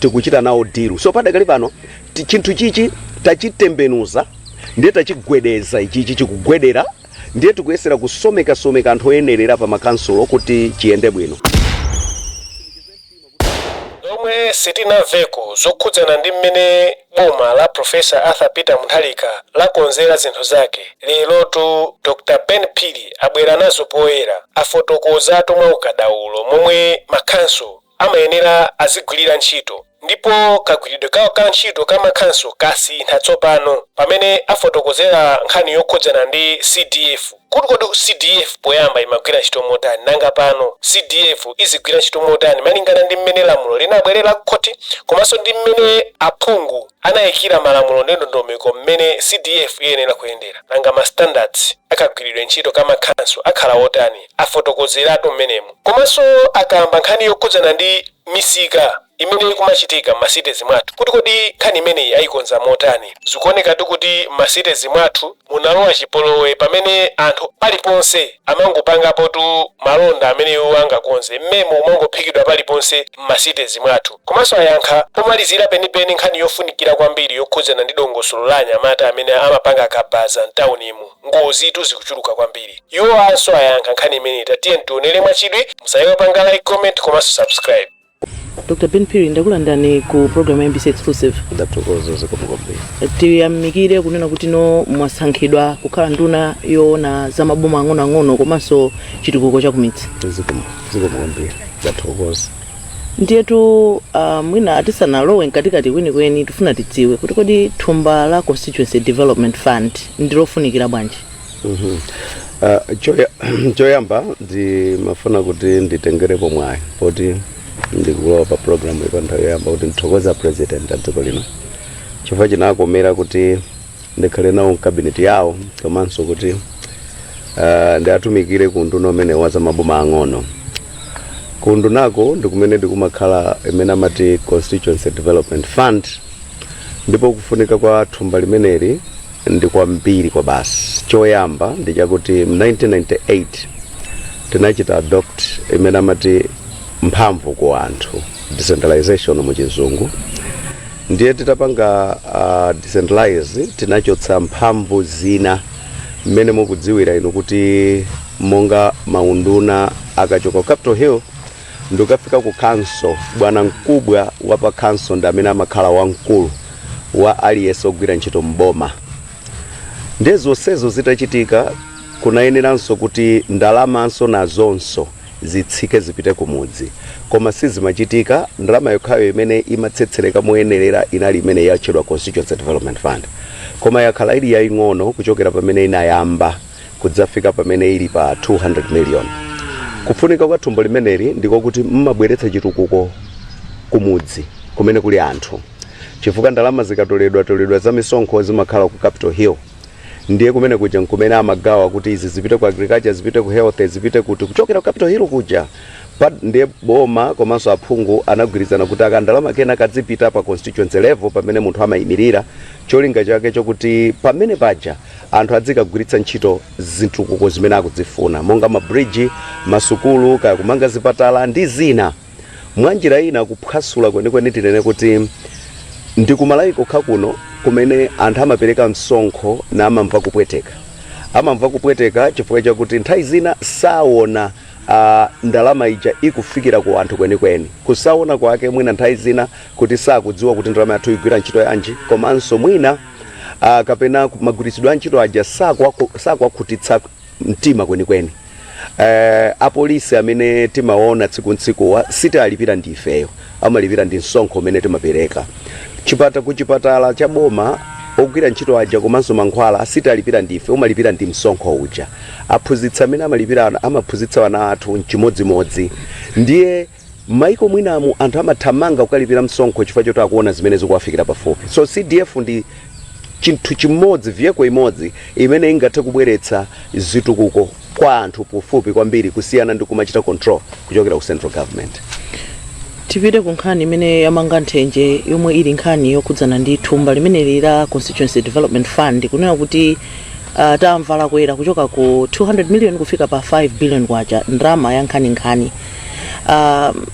tikuchita nawo dilu so padakali pano ti- chinthu chichi tachitembenuza ndiye tachigwedeza ichichi chikugwedera ndiye tikuyesera kusomekasomeka anthu oyenerera pa makansulo kuti chiyende bwino zomwe sitinamvekonso zokhudzana ndi mmene boma la profesa arthur peter mutharika lakonzera zinthu zake lerotu dr ben phiri abwera nazo poyera afotokozatu mwa ukadaulo momwe makhanso amayenera azigwirira ntchito ndipo kagwiridwe kawo ka ntchito kamakhanso kasintha tsopano pamene afotokozera nkhani yokhudzana ndi CDF kuti kodi CDF poyamba imagwira ntchito motani nanga pano CDF izigwira ntchito motani malingana ndi mmene lamulo linabwerera kukhoti komanso ndi mmene aphungu anayikira malamulo ndi ndondomeko mmene CDF iyenera kuyendera nanga ma standards akagwiridwe ntchito kamakhanso akhala otani afotokozeratu mmenemo. Komanso akamba nkhani yokhudzana ndi misika imene ikumachitika m'masitezi mwathu kuti kodi nkhani imeneyi aikonza motani. Zikuonekatu kuti m'masitezi mwathu munalowa chipolowe pamene anthu paliponse amangopangapotu malonda amene iwo angakonze. Mmemo umangophikidwa paliponse m'masitezi mwathu. Komanso ayankha pomalizira penipeni nkhani yofunikira kwambiri yokhudzana ndi dongosolo la anyamata amene amapanga kabaza m'taunimu. Ngozitu zikuchuluka kwambiri. Iwowanso ayankha nkhani imeneyi tiyeni tionele mwachidwi musaiwale kupanga like, comment komanso subscribe. Dr Ben Phiri ndakulandani ku program ya MBC Exclusive. Ndathokoza zikomo kwambiri. Tiyamikire kunena kuti no mwasankhidwa kukhala nduna yoona za maboma ang'onoang'ono komanso chitukuko cha kumidzi. Zikomo zikomo kwambiri. Ndathokoza. Ndiyetu ah, mwina tisanalowe mkatikati kwenikweni tifuna tidziwe kuti kodi thumba la constituency development fund ndilofunikira bwanji Ah, choya- choyamba ndimafuna kuti nditengerepo mwayi poti ndikulowa pa programuyi kwa nthawi yoyamba kuti ndithokoze a president a dziko lino chifukwa chinawakomera kuti ndikhale nawo mkabineti yawo komanso kuti uh, ndiatumikire ku unduna umene wa zamaboma ang'ono ku undunako ndi kumene kumakhala imene amati constituency development fund ndipo kufunika kwa thumba limeneli ndi kwambiri kwabasi choyamba ndi chakuti mu 1998 tinachita adopt imene amati mphamvu ku anthu decentralization mu chizungu ndiye titapanga uh, decentralize tinachotsa mphamvu zina mmene mukudziwira inu kuti monga maunduna akachoka ku capital hill ndi kufika ku council bwanamkubwa wa pa council ndi amene amakhala wamkulu wa aliyense ogwira ntchito mboma ndiye zonsezo zitachitika kunayeneranso kuti ndalamanso nazonso zitsike zipite kumudzi koma sizimachitika. Ndalama yokhayo imene imatsetsereka moyenerera inali imene yatchedwa Constituency Development Fund koma yakhala ili yaing'ono kuchokera pamene inayamba kudzafika pamene ili pa 200 million. Kufunika kwa thumba limeneli ndiko kuti limabweretsa chitukuko kumudzi kumene kuli anthu chifukwa ndalama zikatoledwatoledwa za misonkho zimakhala ku Capital Hill. ndiye kumene kuja nkumene amagawa kuti izi zipite ku agriculture zipite ku health zipite kuti kuchokera ku capital hill kuja ndiye boma komanso aphungu anagwirizana kuti akandalama kena kadzipita pa constituency level pamene munthu amayimirira cholinga chake chokuti pamene paja anthu adzikagwiritsa ntchito zitukuko zimene akudzifuna monga mabridge masukulu kaya kumanga zipatala ndi zina mwanjira ina kuphwasula kwenikweni tinene kuti ndi kumalawi kokha kuno kumene anthu amapereka msonkho na amamva kupweteka amamva kupweteka chifukwa chakuti nthawi zina saona uh, ndalama ija ikufikira ku anthu kwenikweni kusaona kwake mwina nthawi zina kuti sakudziwa kuti ndalama yathuyi igwira ntchito yanji komanso mwina uh, kapena magwiritsidwe a ntchito aja sakwaku- sakwakhutitsa mtima kwenikweni eh, apolisi amene timaona tsiku ntsikuwa sitiwalipira ndi ifeyo amalipira ndi msonkho umene timapereka chipata ku chipatala cha boma ogwira ntchito aja komanso mankhwala sitiwalipira ndi ife umalipira ndi msonkho uja aphunzitsi amene amalipira ana- amaphunzitsa ana athu mchimodzimodzi ndiye M'maiko mwinamu anthu amathamanga kukalipira msonkho chifukwa choti akuona zimene zikuwafikira pafupi. So CDF ndi chinthu chimodzi, vehicle imodzi imene ingathe kubweretsa zitukuko kwa anthu pafupi kwambiri kusiyana ndi kumachita control kuchokera ku central government. Tipite ku nkhani imene yamanga nthenje yomwe ili nkhani yokhudzana ndi thumba limeneli la Constituency Development Fund kunena kuti uh, tamva lakwera kuchoka ku 200 million kufika pa 5 billion kwacha ndalama ya nkhaninkhani um,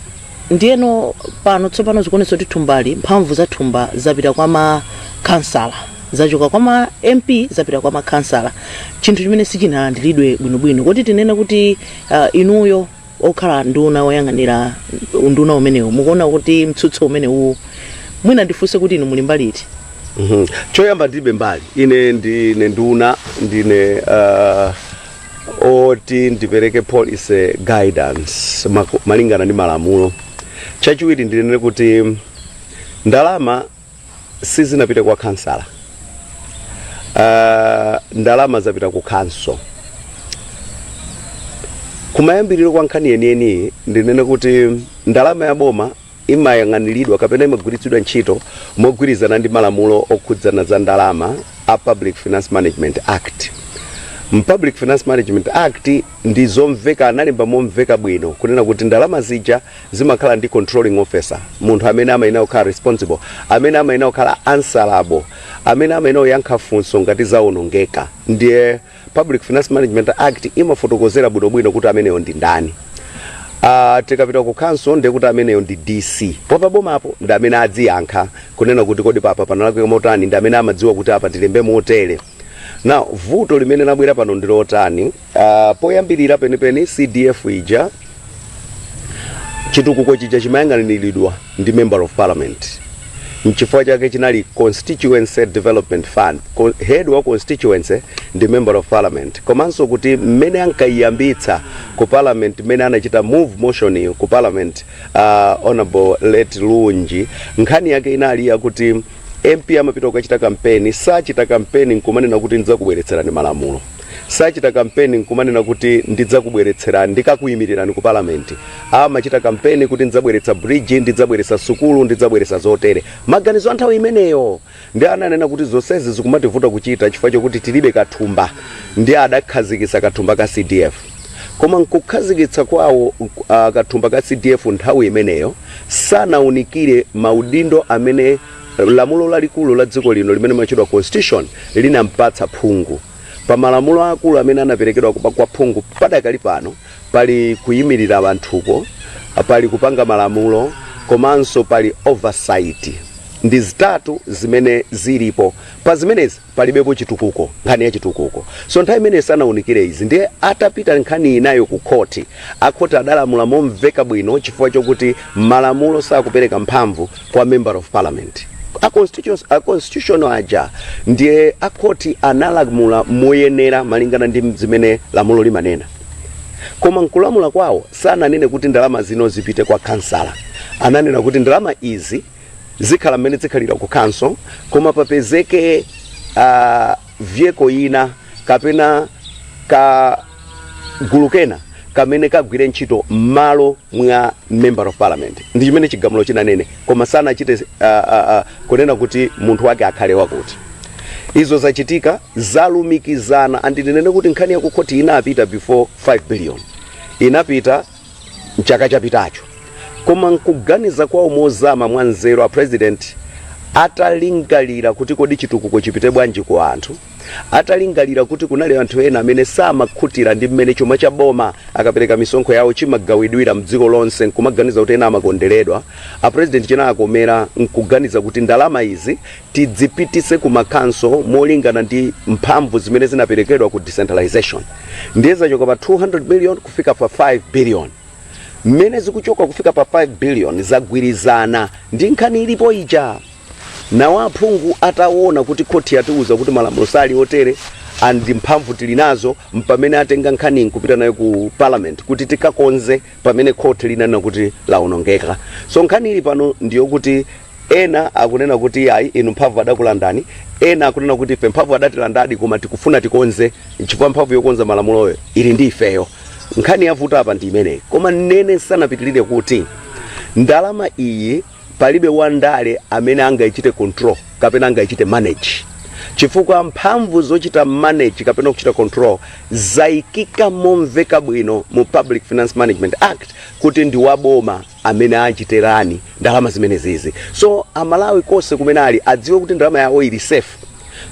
ndiyeno pano tsopano zikuonetsa kuti thumbali mphamvu za thumba zapita kwa makhansala zachoka kwa ma mp zapita kwa makhansala chinthu chimene sichinalandiridwe bwinobwino kodi tinene kuti uh, inuyo okhala nduna oyang'anira unduna umenewu mukuona kuti mtsutso umenewu mwina ndifunse kuti inu muli mbali iti Mhm. choyamba ndilibe mbali ine ndine nduna ndine uh, oti ndipereke policy guidance maku- malingana ndi malamulo chachiwiri ndinene kuti ndalama sizinapite kwa khansala uh, ndalama zapita ku khonsolo kumayambiriro kwa nkhani yeniyeniyi ndinene kuti ndalama ya boma imayang'aniridwa kapena imagwiritsidwa ntchito mogwirizana ndi malamulo okhudzana za ndalama a Public Finance Management Act. Mu Public Finance Management Act ndi zomveka analemba momveka bwino kunena kuti ndalama zija zimakhala ndi controlling officer, munthu amene amayenera kukhala responsible, amene amayenera kukhala answerable, amene amayenera kuyankha funso ngati zawonongeka. Ndiye Public Finance Management Act imafotokozera bwinobwino kuti ameneyo ndi ndani. Uh, tikapita ku council ndiye kuti ameneyo ndi DC wapabomapo ndi amene adziyankha kunena kuti kodi papa panalakwika motani, ndi amene amadziwa kuti apa tilembe motere. Now vuto limene labwera pano ndi lotani? Uh, poyambirira penipeni CDF ija chitukuko chija chimayang'aniridwa ndi member of parliament nchifukwa chake chinali constituency development fund Ko- head wa constituency ndi member of parliament komanso kuti mmene ankayiyambitsa ku parliament mmene anachita move motion ku parliament uh, honorable late Lunji nkhani yake inali yakuti mp amapita kukachita kampeni sachita kampeni nkumanena kuti ndidzakubweretserani malamulo Sachita kampeni n'kumanena kuti ndidzakubweretserani, ndikakuyimirirani ku Parliament. Amachita kampeni kuti ndidzabweretsa bridge, ndidzabweretsa sukulu, ndidzabweretsa zotere. Maganizo a nthawi imeneyo. Ndiye ananena kuti zonsezi zikumativuta kuchita chifukwa chokuti tilibe kathumba. Ndiye adakhazikitsa kathumba ka CDF. Koma m'kukhazikitsa kwawo kathumba ka CDF nthawi imeneyo, sanawunikire maudindo amene Lamulo lalikulu la dziko lino limene limatchedwa Constitution linampatsa phungu. Pa malamulo aakulu amene anaperekedwa kwa phungu padakali pano pali kuyimirira anthuko, pali kupanga malamulo komanso pali oversight. Ndi zitatu zimene zilipo. Pa zimenezi palibepo chitukuko nkhani ya chitukuko so nthawi imeneyo sanaunikire izi ndiye atapita nkhani inayo ku khoti akhoti adalamula momveka bwino chifukwa chokuti malamulo sakupereka mphamvu kwa member of parliament a constitution aja ndiye akhoti analamula moyenera malingana ndi zimene lamulo limanena koma nkulamula kwawo sananene kuti ndalama zino zipite kwa kansala ananena kuti ndalama izi zikhala mmene zikhalira ku council koma papezeke uh, vehicle ina kapena ka gulu kena kamene kagwire ntchito m'malo mwa member of parliament ndi chimene chigamulo chinanene koma sanachite uh, uh, uh, kunena kuti munthu wake akhale wakuti izo zachitika zalumikizana andinene kuti nkhani yakukhoti inapita before 5 billion inapita mchaka chapitacho koma nkuganiza kwawo mozama mwa nzeru a president atalingalira kuti kodi chitukuko chipite bwanji ku anthu atalingalira kuti kunali anthu ena amene samakhutira ndi mmene chuma cha boma akapereka misonkho yawo chimagawidwira mdziko lonse nkumaganiza kuti ena amakonderedwa a president chinawakomera nkuganiza kuti ndalama izi tidzipititse ku ma council molingana ndi mphamvu zimene zinaperekedwa ku decentralization ndiye zachoka pa 200 million kufika pa 5 billion mmene zikuchoka kufika pa 5 billion zagwirizana ndi nkhani ilipo ija now aphungu ataona kuti khoti yatiuza kuti malamulo sali otere and mphamvu tili nazo mpamene atenga nkhani nkupita nayo ku parliament kuti tikakonze pamene court linanena kuti lawonongeka so nkhani ili pano ndiyokuti ena akunena kuti yayi inu mphamvu adakulandani ena akunena kuti ife mphamvu adatilandadi koma tikufuna tikonze nchifukwa mphamvu yokonza malamuloyo ili ndi ifeyo nkhani yavuta apa ndi imeneyi koma ndinene tisanapitirire kuti ndalama iyi Palibe wa ndale amene angaichite control kapena angaichite manage chifukwa mphamvu zochita manage kapena kuchita control zaikika momveka bwino mu Public Finance Management Act kuti ndi wa boma amene achite run ndalama zimenezizi. So Amalawi konse komwe ali adziwe kuti ndalama yawo ili safe.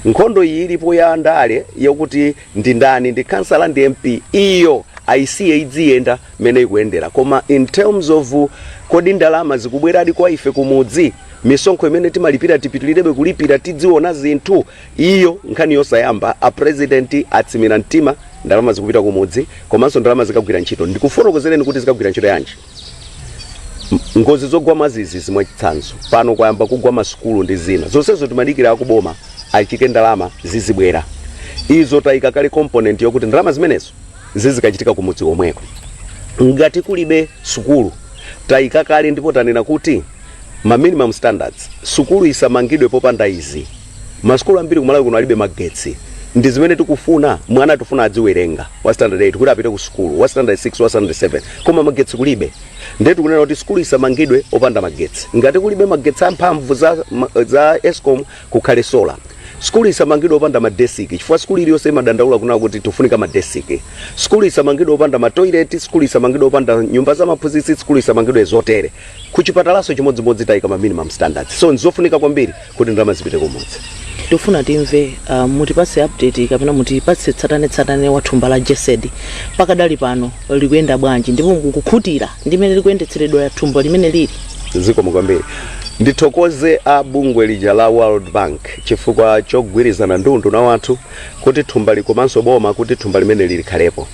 Nkhondo iyi ilipo ya ndale yokuti ndi ndani ndi khansala ndi mp iyo aisiye idziyenda mmene ikuyendera koma in terms of kodi ndalama zikubweradi kwa ife kumudzi misonkho imene timalipira tipitilirebe kulipira tidziona zinthu iyo nkhani yosayamba a president atsimikiza mtima ndalama zikupita kumudzi komanso ndalama zikagwira ntchito ndikufotokozereni kuti zikagwira ntchito yanji M- ngozi zogwa mwadzidzidzi mwachitsanzo pano kwayamba kugwa masukulu ndi zina zonsezo timadikira akuboma atchike ndalama zizibwera izo tayika kale component yokuti ndalama zimenezo zizikachitika kumudzi komweko ngati kulibe sukulu tayika kale ndipo tanena kuti ma minimum standards sukulu isamangidwe popanda izi Masukulu ambiri ku Malawi kuno alibe magetsi. Ndi zimene tikufuna? Mwana tikufuna adziwerenga wa standard 8 kuti apite ku sukulu, wa standard 6, wa standard 7, koma magetsi kulibe. Ndiye tikunena kuti sukulu isamangidwe opanda magetsi. Ngati kulibe magetsi a mphamvu za, za Escom kukhale solar. Sukulu isamangidwe opanda madesiki chifukwa sukulu iliyonse imadandaula kunena kuti tikufunika madesiki. Sukulu isamangidwe opanda matoilet, sukulu isamangidwe opanda nyumba za maphunzitsi, sukulu isamangidwe zotere. Ku chipatalanso chimodzimodzi taika ma minimum standards. So nzofunika kwambiri. kuti ndalama zipite kumudzi tikufuna timve uh, mutipatse update kapena mutipatse tsatanetsatane wa thumba la GESD pakadali pano likuyenda bwanji ndipo mukukhutira ndi mmene likuyendetseredwera thumba limenelili zikomo kwambiri ndithokoze a bungwe lija la world bank chifukwa chogwirizana ndi unduna wathu kuti thumbali komanso boma kuti thumba limeneli likhalepo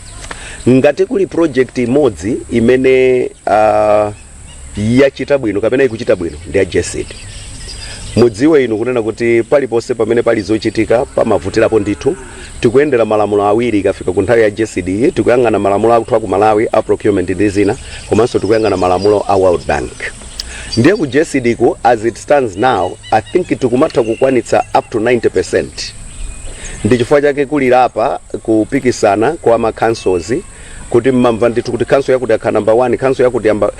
ngati kuli project imodzi imene uh, yachita bwino kapena ikuchita bwino ndi ya GESD. Mudziwe inu kunena kuti paliponse pamene pali zochitika pamavutirapo ndithu. Tikuyendera malamulo awiri ikafika ku nthawi ya GESD iyi, tikuyang'ana malamulo athu a ku Malawi a procurement ndi zina, komanso tikuyang'ana malamulo a World Bank. Ndiye ku GESD ku as it stands now, I think tikumatha kukwanitsa up to 90%. Ndi chifukwa chake kuli LAPA kupikisana kwa ma councils kuti mmamva ndithu kuti khanso yakuti yakhala namba 1 khanso yakuti yamba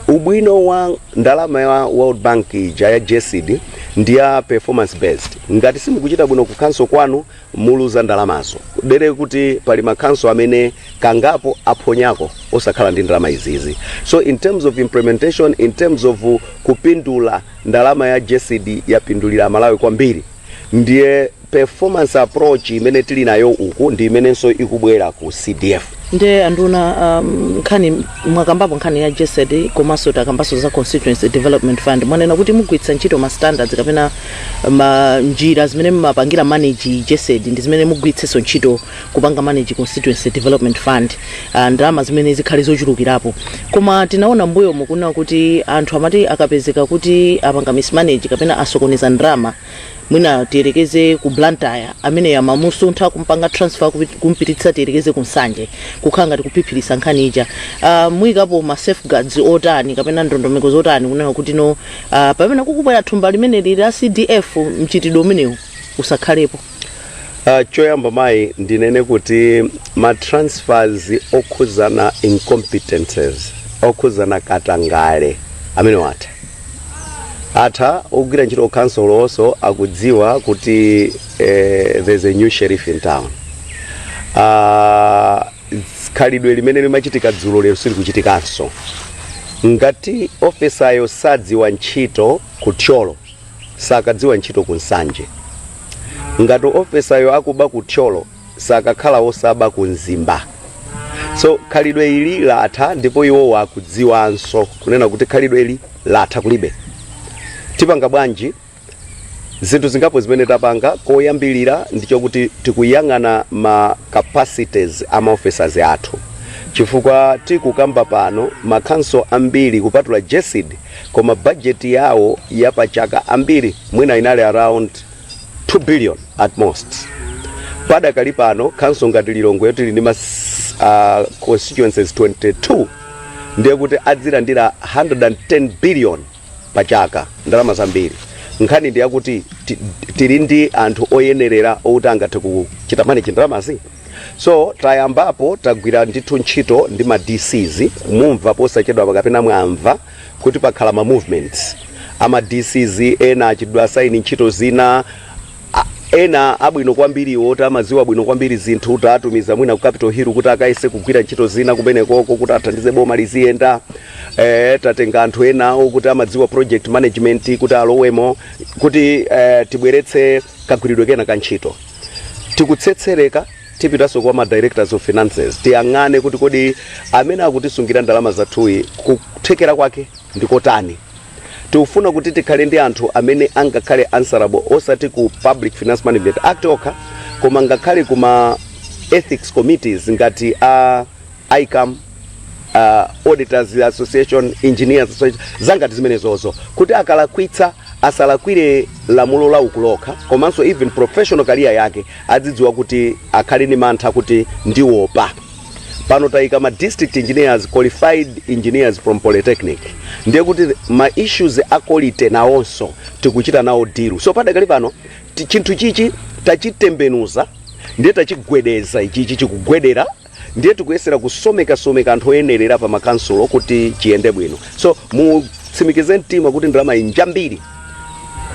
ubwino wa ndalama ya world bank ija ya GESD ndi ya performance based ngati simukuchita bwino ku khanso kwanu muluza ndalamazo dere kuti pali makhanso amene kangapo aphonyako osakhala ndi ndalama izizi so in terms of implementation in terms of kupindula ndalama ya GESD yapindulira amalawi kwambiri ndiye Performance approach imene tili nayo uku ndi imenenso ikubwera ku CDF. nde anduna um, nkhani mwakambapo nkhani ya GESD komanso takambanso za constituency development fund mwanena kuti mugwiritsa ntchito ma standards kapena ma njira zimene mumapangira manage GESD ndi zimene mugwiritsenso ntchito kupanga manage constituency development fund uh, ndalama zimene zikhale zochulukirapo koma tinaona mbuyomu kunena kuti anthu amati akapezeka kuti apanga mismanage kapena asokoneza ndalama mwina tiyerekeze ku blantyre ameneyo amamusuntha kumpanga transfer kupi- kumpititsa tiyerekeze ku nsanje kukhala ngati kuphiphiritsa nkhani ija uh, muyikapo ma safeguards otani kapena ndondomeko zotani kunena kuti no uh, pamene kukubwera thumba limeneli la cdf mchitidwe umenewu usakhalepo Uh, choyamba mayi ndinene kuti ma transfers okhudzana incompetences okhudzana katangale amenewa atha atha ogwira ntchito kukhansolo onse akudziwa kuti eh, there's a new sheriff in town Ah, ts- khalidwe limene limachitika dzulo lero silikuchitikanso ngati ofesayo sadziwa ntchito ku thyolo sakadziwa ntchito ku nsanje ngati ofesayo akuba ku thyolo sakakhala osaba ku mzimba so khalidwe ili latha ndipo iwowo akudziwanso kunena kuti khalidwe ili latha kulibe tipanga bwanji zinthu zingapo zimene tapanga koyambirira ndi chokuti tikuyang'ana ma capacities a maofficers athu chifukwa tikukamba pano makhanso ambiri kupatula gesd koma bajeti yawo yapachaka ambiri mwina inali around 2 billion at most padakali pano council ngati lilongwe yoti ili ndi ma s- ah, constituencies 22 ndiye kuti adzilandira 110 billion pa chaka ndalama zambiri nkhani ndi yakuti ti- tili ndi anthu oyenerera outi angathe kuchita manage ndalamazi so tayambapo tagwira ndithu ntchito ndi ma dcs mumva posachedwapa kapena mwamva kuti pakhala ma movements ama DCs ena achitidwa assign ntchito zina a- ena abwino kwambiri oti amadziwa bwino kwambiri zinthu tatumiza mwina ku capital hill kuti akayese kugwira ntchito zina kumenekoko kuti athandize boma liziyenda eh, tatenga anthu ena okuti amadziwa project management kuti alowemo kuti eh, tibweretse kagwiridwe kena ka ntchito tikutsetsereka Tipitanso kwa ma Directors of Finances tiyang'ane kuti kodi amene akutisungira ndalama zathuyi kuthekera kwake ndi kotani. Tikufuna kuti tikhale ndi anthu amene angakhale answerable osati ku Public Finance Management Act okha koma ngakhale ku ma Ethics Committees ngati a. ICAM, uh, Auditors Association, Engineers Association, zangati zimenezozo kuti akalakwitsa asalakwire lamulo la uku lokha komanso even professional career yake adzidziwa kuti akhale ni mantha kuti ndiwopa pano tayika ma district engineers qualified engineers from polytechnic ndiye kuti ma issues a quality nawonso tikuchita nawo deal so padakali pano ti- chinthu chichi tachitembenuza ndiye tachigwedeza ichichi chikugwedera ndiye tikuyesera kusomekasomeka anthu oyenerera pa makansulo kuti chiyende bwino so mutsimikize mtima kuti ndalamayi njambiri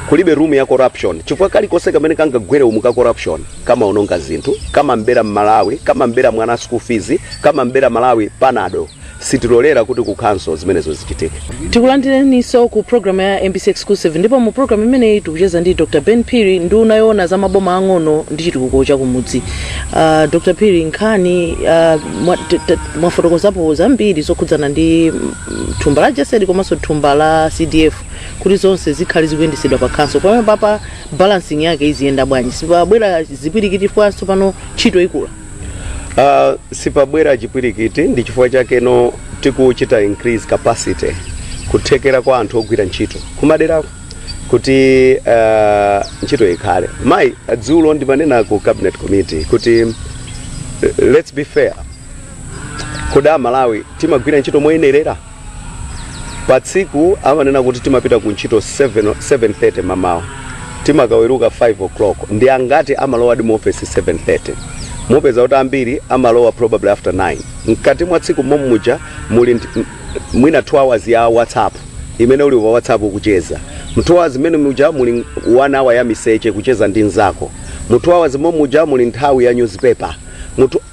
kulibe room ya corruption chifukwa kalikonse kamene kangagwere umu ka corruption kamaononga zinthu kamambera mmalawi kamambera mwana school fees kamambera malawi panado sitilolera kuti ku khanso zimenezo zichitike tikulandireniso ku programu ya mbc exclusive ndipo mu programu imeneyi tikucheza ndi dr ben phiri nduna yoona za maboma ang'ono ndi chitukuko chakumudzi uh, dr phiri nkhani uh, mwa- t- t- mwafotokozapo zambiri zokhudzana ndi mm, thumba la gesd komanso thumba la cdf kuti zonse zikhale zikuyendesedwa pa khanso pamenepapa balancing yake iziyenda bwanji sipabwera zipwirikiti chifukwanso pano ntchito ikula Uh, sipabwera chipwirikiti ndi chifukwa chake no tikuchita increase capacity kuthekera kwa anthu ogwira ntchito kumaderako kuti uh, ntchito ikhale mayi dzulo ndimanena ku cabinet committee kuti uh, let's be fair kodi aMalawi timagwira ntchito moyenerera Pa tsiku amanena kuti timapita ku ntchito 7:30 mamawa timakaweruka 5 o'clock. Ndi angati amalowadi mu ofesi 7:30? Mupeza kuti ambiri amalowa probably after 9. Mkati mwa tsiku momuja muli nt, mwina 2 hours ya WhatsApp imene uli pa WhatsApp kucheza. Mu 2 hours mmene muja muli 1 hour ya miseche kucheza ndi mnzako. Mu 2 hours momuja muli nthawi ya newspaper.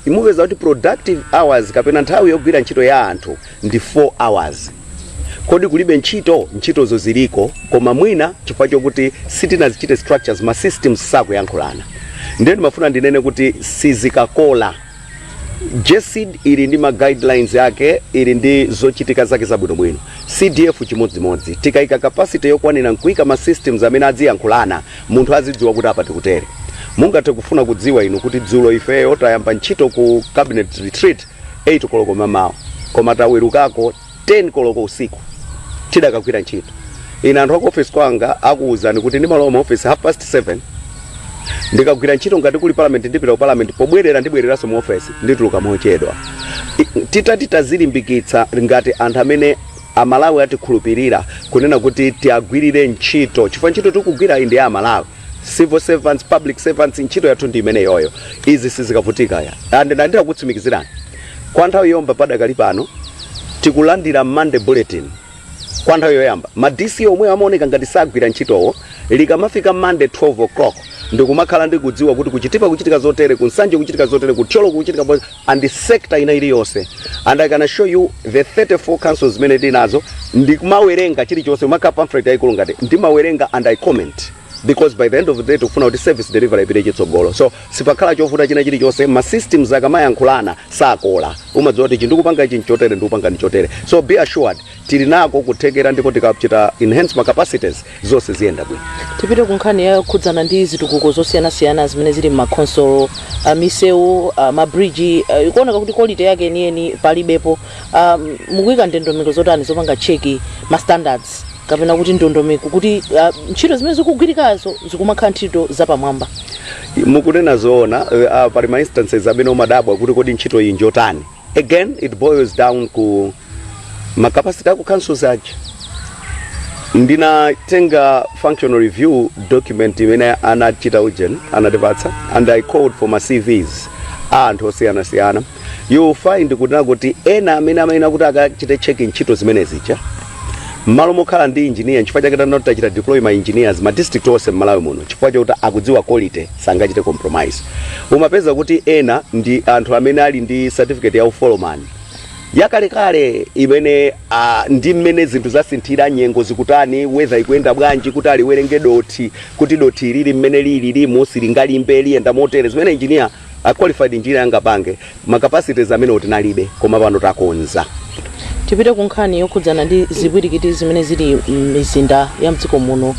mupeza kuti productive hours kapena nthawi yogwira ntchito ya anthu ndi 4 hours kodi kulibe ntchito ntchitozo ziliko koma mwina chifukwa chokuti sitinazichite structures ma systems sakuyankhulana ndiye ndimafuna ndinene kuti sizikakola jcid ili ndi ma guidelines yake ili ndi zochitika zake zabwinobwino cdf chimodzimodzi tikaika capacity yokwanira nkuika ma systems amene adziyankhulana munthu azidziwa kuti apa tikutere. Mungathe kufuna kudziwa inu kuti dzulo ifeyo tayamba ntchito ku cabinet retreat 8 koloko mamawa koma tawerukako 10 koloko usiku tidakagwira ntchito. Ine anthu aku office kwanga akuwuzani kuti ndimalowa mu office half past 7 ndikagwira ntchito ngati kuli parliament ndipita ku parliament pobwerera ndibwereranso mu office ndituluka mochedwa. I- Titati tazilimbikitsa ngati anthu amene A Malawi atikhulupirira kunena kuti tiwagwirire ntchito chifukwa ntchito tikugwirayi ndi ya aMalawi. Civil servants, public servants ntchito yathu ndi imeneyoyo. Izi sizikavutika ayi. And ndati ndakutsimikizirani kwa nthawi yomba padakali pano tikulandira Monday bulletin kwa nthawi yoyamba. Ma DC omwewo amaoneka ngati sagwira ntchitowo likamafika Monday 12:00 ndikumakhala ndikudziwa kuti ku Chitipa kuchitika zotere, ku Nsanje kuchitika zotere, ku Thyolo kuchitika. and sector ina iliyonse and I can show you the 34 councils zimene tinazo ndikumawerenga chilichonse imakhala pamphlet yayikulu ngati ndimawerenga and I comment because by the end of the day tikufuna kuti service delivery ipite chitsogolo so sipakhala chovuta china chilichonse ma systems akamayankhulana sakola umadziwa kuti ichi ndikupanga ichi nchotere ndikupanga ndichotere so be assured Tili nako kuthekera ndipo tikachita enhance ma capacities zonse ziyenda bwino. Tipite ku nkhani yokhudzana ndi zitukuko zosiyanasiyana zimene zili m'ma khonsolo, a misewu, a ma bridge, ikuoneka kuti quality yake yeniyeni palibepo. Mukuika ndondomeko zotani zopanga check ma standards kapena kuti ndondomeko kuti ntchito zimene zikugwirikazo zikumakhala ntchito zapamwamba? Mukunena zoona, pali ma instances amene umadabwa kuti kodi ntchito iyi njotani. again it boils down ku ma capacity aku councils aja ndinatenga functional review document imene anachita ujen anatipatsa and i called for ma cvs a anthu osiyanasiyana you will find kuti nakuti ena amene amayenera kuti akachite checking ntchito zimene zija mmalo mokhala ndi engineer chifukwa chake panopa tachita deploy ma engineers ma district onse mmalawi muno chifukwa chakuti akudziwa quality sangachite compromise umapeza kuti ena ndi anthu amene ali ndi certificate ya ufolomani yakalekale imene uh, ndi mmene zinthu zasinthira nyengo zikutani weather ikuyenda bwanji kuti aliwerenge dothi kuti dothi ili mmene lili limu silingalimbe liyenda motere zimene engineer a qualified engineer angapange ma capacities amenewo tinalibe koma pano takonza tipite ku nkhani yokhudzana ndi zipwirikiti zimene zili m'mizinda ya mdziko muno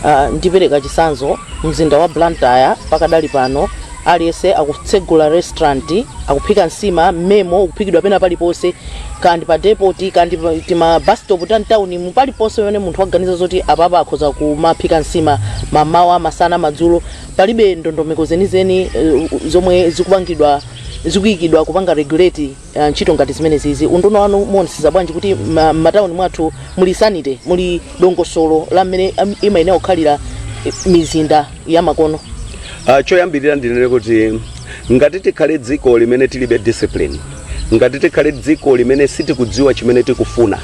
uh, ndipereka chisanzo mzinda wa blantyre pakadali pano aliyense akutsegula restaurant akuphika nsima mmemo ukuphikidwa pena paliponse kaya ndi pa depoti kaya ndi pa- tima bus stop ta mtawuni mu paliponse pamene munthu waganiza zoti apapa akhoza kumaphika nsima mamawa masana madzulo palibe ndondomeko zenizeni uh, zomwe zikupangidwa zikuyikidwa kupanga regulate uh, ntchito ngati zimenezizi unduna wanu muonetsetsa bwanji kuti ma- m'matawuni mwathu muli sanity muli dongosolo la mmene am- imayenera kukhalira eh, mizinda ya makono Ah, choyambirira ndinene kuti ngati tikhale dziko limene tilibe discipline ngati tikhale dziko limene sitikudziwa chimene tikufuna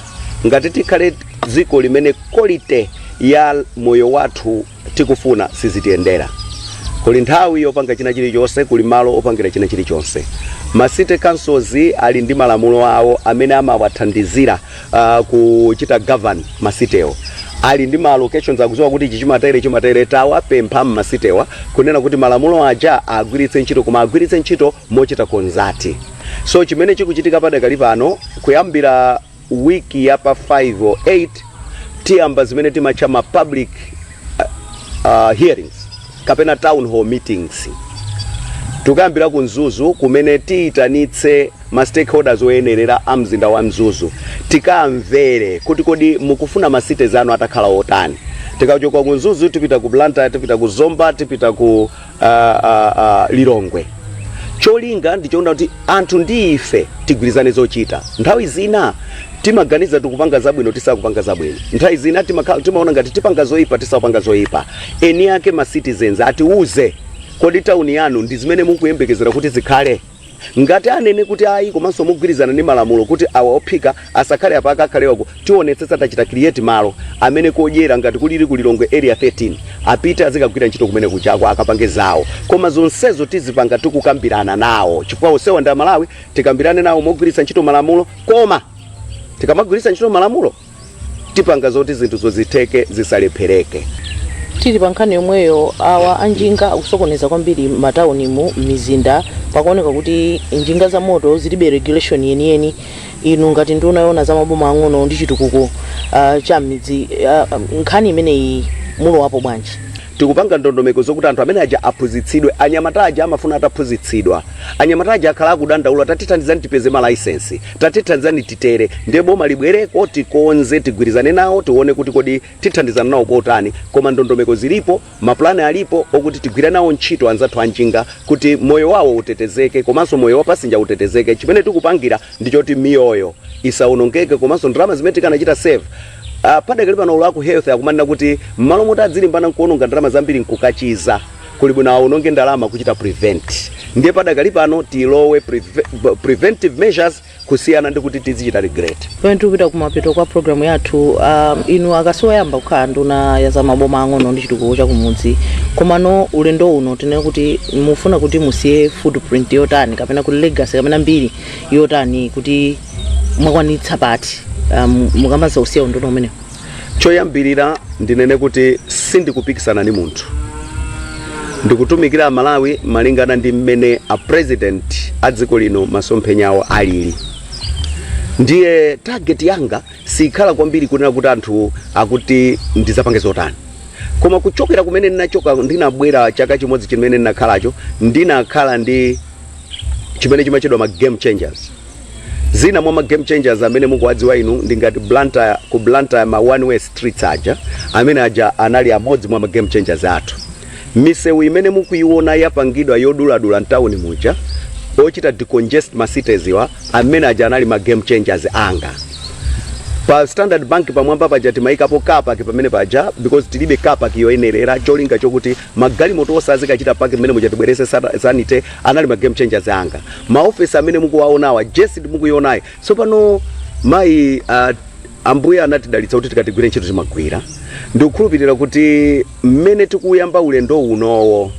ngati tikhale dziko limene quality ya moyo wathu tikufuna sizitiyendera. Kuli nthawi yopanga china chilichonse, kuli malo opangira china chilichonse. Ma city councils ali ndi malamulo awo amene amawathandizira ah, kuchita govern ma city-wo ali ndi ma allocations akudziwa kuti ichi chimatere chimatere tawapempha ma city-wa kunena kuti malamulo aja agwiritse ntchito koma agwiritse ntchito mochita consult so chimene chikuchitika padakali pano kuyambira week ya pa 5 or 8 tiyamba zimene timatcha ma public uh, uh, hearings kapena town hall meetings tikayambira ku mzuzu kumene tiyitanitse ma stakeholders oyenerera a mzinda wa mzuzu tikamvere kuti kodi mukufuna ma cities anu atakhala otani tikachoka ku mzuzu tipita ku blantyre tipita ku zomba tipita ku ah, ah, ah, lilongwe cholinga ndichonena kuti anthu ndi ife tigwirizane zochita nthawi zina timaganiza tikupanga zabwino tisakupanga zabwino nthawi zina timakha- timaona ngati tipanga zoyipa tisakupanga zoyipa eni ake ma citizens atiuze kodi tawuni yanu ndi zimene mukuyembekezera kuti zikhale Ngati anene kuti ayi komanso mogwirizana ndi malamulo kuti awa ophika asakhale apa akakhale uko tionetsetsa tachita create malo amene okodyera ngati kulili ku Lilongwe area 13 apite azikagwira ntchito kumene kujako akapange zawo koma zonsezo tizipanga tikukambirana nawo chifukwa onsewa ndi Amalawi tikambirane nawo mogwiritsa ntchito malamulo koma tikamagwiritsa ntchito malamulo tipanga zoti zinthuzo zitheke zisalephereke tili pa nkhani yomweyo awa anjinga akusokoneza kwambiri m'mataunimu m'mizinda pakuoneka kuti njinga za moto zilibe regulation yeniyeni inu ngati nduna yoona za maboma ang'ono ndi chitukuko uh, cha m'midzi uh, nkhani imeneyi mulowapo bwanji Tikupanga ndondomeko zokuti anthu amene aja aphunzitsidwe. Anyamata aja amafuna ataphunzitsidwa. Anyamata aja akhala akudandaula, tatithandizani tipeze ma license, tatithandizani titere. Ndiye boma libwereko, tikonze, tigwirizane nawo, tione kuti kodi tithandizana nawo motani. Koma ndondomeko zilipo, ma plan alipo okuti tigwire nawo ntchito anzathu a njinga kuti moyo wawo utetezeke komanso moyo wa passenger utetezeke. Chimene tikupangira ndi choti miyoyo isaonongeke komanso ndalama zimene tikanachita save, Uh, padakali pano olo aku health akumanena kuti m'malo moti adzilimbana nkuononga ndalama zambiri nkukachiza kuli bwino aononge ndalama kuchita prevent ndiye padakali pano tilowe preve, preventive measures kusiyana ndi kuti tizichita regret pamene tikupita kumapeto kwa programu yathu um, inu aka si koyamba kukhala nduna ya za maboma ang'ono ndi chitukuko cha kumudzi komano ulendo uno tinene kuti mufuna kuti musiye footprint yotani kapena kuti legacy kapena mbiri yotani kuti mwakwanitsa pati um, mukamadzausiya unduna umenewu choyambirira ndinene kuti sindikupikisana ndi munthu ndikutumikira amalawi malingana ndi mmene a president a dziko lino masomphenya awo alili ndiye target yanga sikhala kwambiri kunena kuti anthu akuti ndizapange zotani koma kuchokera kumene ndinachoka ndinabwera chaka chimodzi chimene ndinakhalacho ndinakhala ndi chimene chimatchedwa ma game changers zina mwa ma game changers amene mukuwadziwa inu ndi ngati Blantyre ku Blantyre ma one way streets aja amene aja anali amodzi mwa ma game changers athu misewu imene mukuiona yapangidwa yoduladula mtawuni muja ochita decongest ma cities wa amene aja anali ma game changers anga pa standard bank pamwamba paja timayikapo car park pamene paja because tilibe car park yoyenerera cholinga chokuti Magalimoto onse azikachita park mmene muja tibweretse sata- sanity anali ma game changers anga. Ma office amene mukuwaonawa Jessid mukuionayi. Tsopano mayi ah, ambuye anatidalitsa kuti tikatigwire ntchito timagwira. Ndikukhulupirira kuti mmene tikuyamba ulendo unowo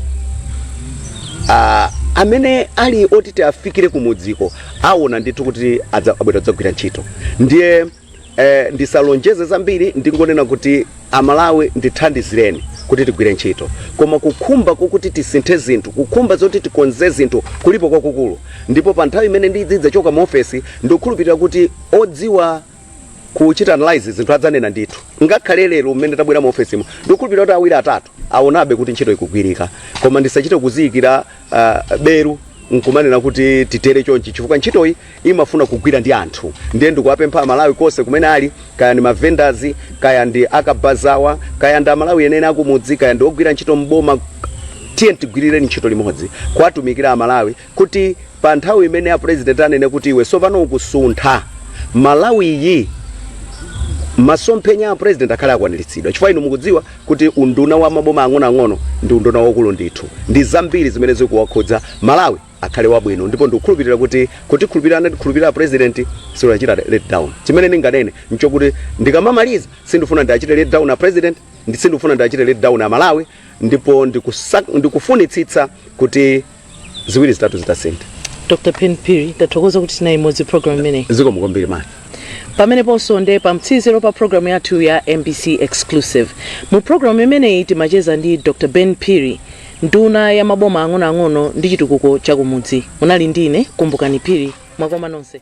Ah, amene ali oti tiwafikire kumudziko aona ndithu kuti adza- abwera kudzagwira ntchito ndiye Eh, ndisalonjeze zambiri ndingonena kuti Amalawi ndithandizireni kuti tigwire ntchito koma kukhumba kokuti tisinthe zinthu kukhumba zoti tikonze zinthu kulipo kwakukulu ndipo pa nthawi imene ndidzachoka mu ofesi ndikukhulupirira kuti odziwa kuchita analyze zinthu adzanena ndithu ngakhale lero mmene tabwera mu ofesimo ndikukhulupirira kuti awiri atatu aonabe kuti ntchito ikugwirika koma ndisachite kuziyikira uh, belu nkumanena kuti titere chonchi chifukwa ntchitoyi imafuna kugwira ndi anthu ndiye ndikuwapempha amalawi konse kumene ali kaya ndi mavendors kaya ndi akabazawa kaya ndi amalawi enieni akumudzi kaya ndi ogwira ntchito mboma tiyeni tigwirire ntchito limodzi kuwatumikira amalawi kuti pa nthawi imene a president anene kuti iwe tsopano ukusintha malawiyi masomphenya a president akhale akwaniritsidwa chifukwa inu mukudziwa kuti unduna wa maboma ang'onoang'ono ndi unduna waukulu ndithu ndi zambiri zimene zikuwakhudza Malawi akhale wabwino ndipo ndikukhulupilira kuti kundikhulupilira anandikhulupilira president sindiwachita let down chimene ndinganene nchokuti ndikamamaliza sindikufuna ndiwachite let down a president sindikufuna ndiwachite let down a Malawi ndipo ndikufunitsitsa kuti ziwiri zitatu zitasintha dr ben phiri tathokoza kuti tinali limodzi mu programu imeneyi zikomo kwambiri man pameneponso nde pa mtsiriziro pa programu yathu ya mbc exclusive mu programu imeneyi timacheza ndi dr ben phiri nduna ya maboma ang'onoang'ono ndi chitukuko chakumudzi munali ndine kumbukani phiri mwakoma nonse